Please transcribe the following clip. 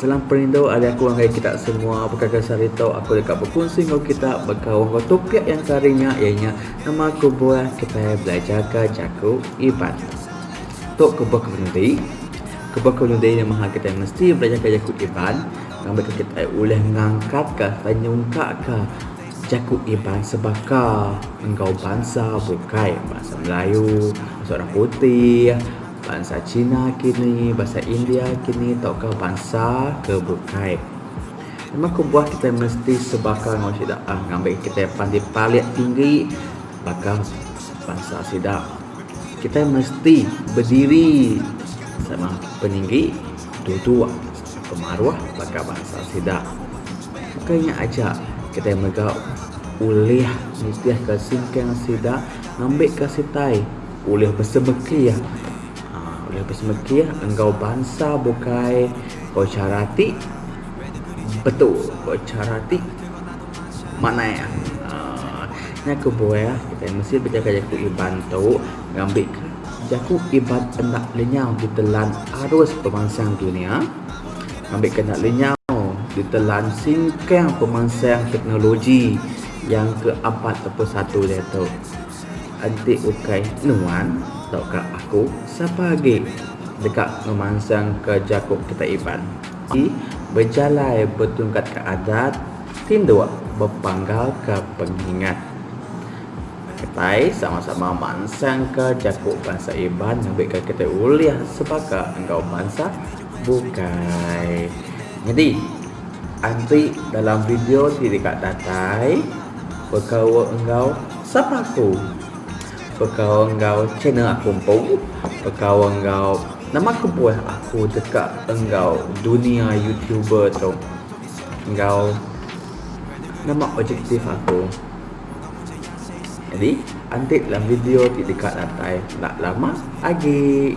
Salam perindu ari aku ngagai kita semua. Bekaga sehari tu aku deka bekunsi enggau kita baka wang enggau topik yang sehari nya iya nya nama kebuah kitai belajarka jaku Iban. Tu kebuah ke menudi. Kebuah ke menudi nya maha kitai mesti belajarka jaku Iban ngambika kitai ulih ngangkatka sereta nyungkakka jaku Iban sebaka enggau bansa bukai. Bansa Melayu, bansa orang putih. Bansa China kini, bansa India kini tauka bansa ke bukai. Memang kebuah kitai mesti sebaka enggau sida ah ngambika kitai pan dipalik tinggi baka bansa sida. Kitai mesti bediri sama peninggi duduk pemaruh baka bansa sida. Bukai nya aja kitai mega ulih nitihka singkang sida ngambika sitai ulih besemekih ulih besemekih enggau bansa bukai ko chara ti betul ko chara ti manah iya aaa nya kebuah kitai mesti bejaga jaku Iban tu ngambi ka jaku Iban enda lenyau ditelan arus pemansang dunya ngambi ka enda lenyau ditelan singkang pemansang teknologi yang ke apat ke satu diatu. Enti ukai nuan tauka aku, sapa agi deka ngemansangka jaku kitai Iban ti bejalai betungkatka adat tinduk bepanggalka pengingat. Kitai sama-sama mansangka jaku bansa Iban ngambika kitai ulih sebaka enggau bansa bukai. Nyadi, enti dalam video ti deka datai bekaul enggau. Sapa aku? Bekaul enggau channel aku empu, bekaul enggau nama kebuah aku deka enggau dunia youtuber tu enggau nama objektif aku. Jadi enti dalam video ti deka datai enda lama agi.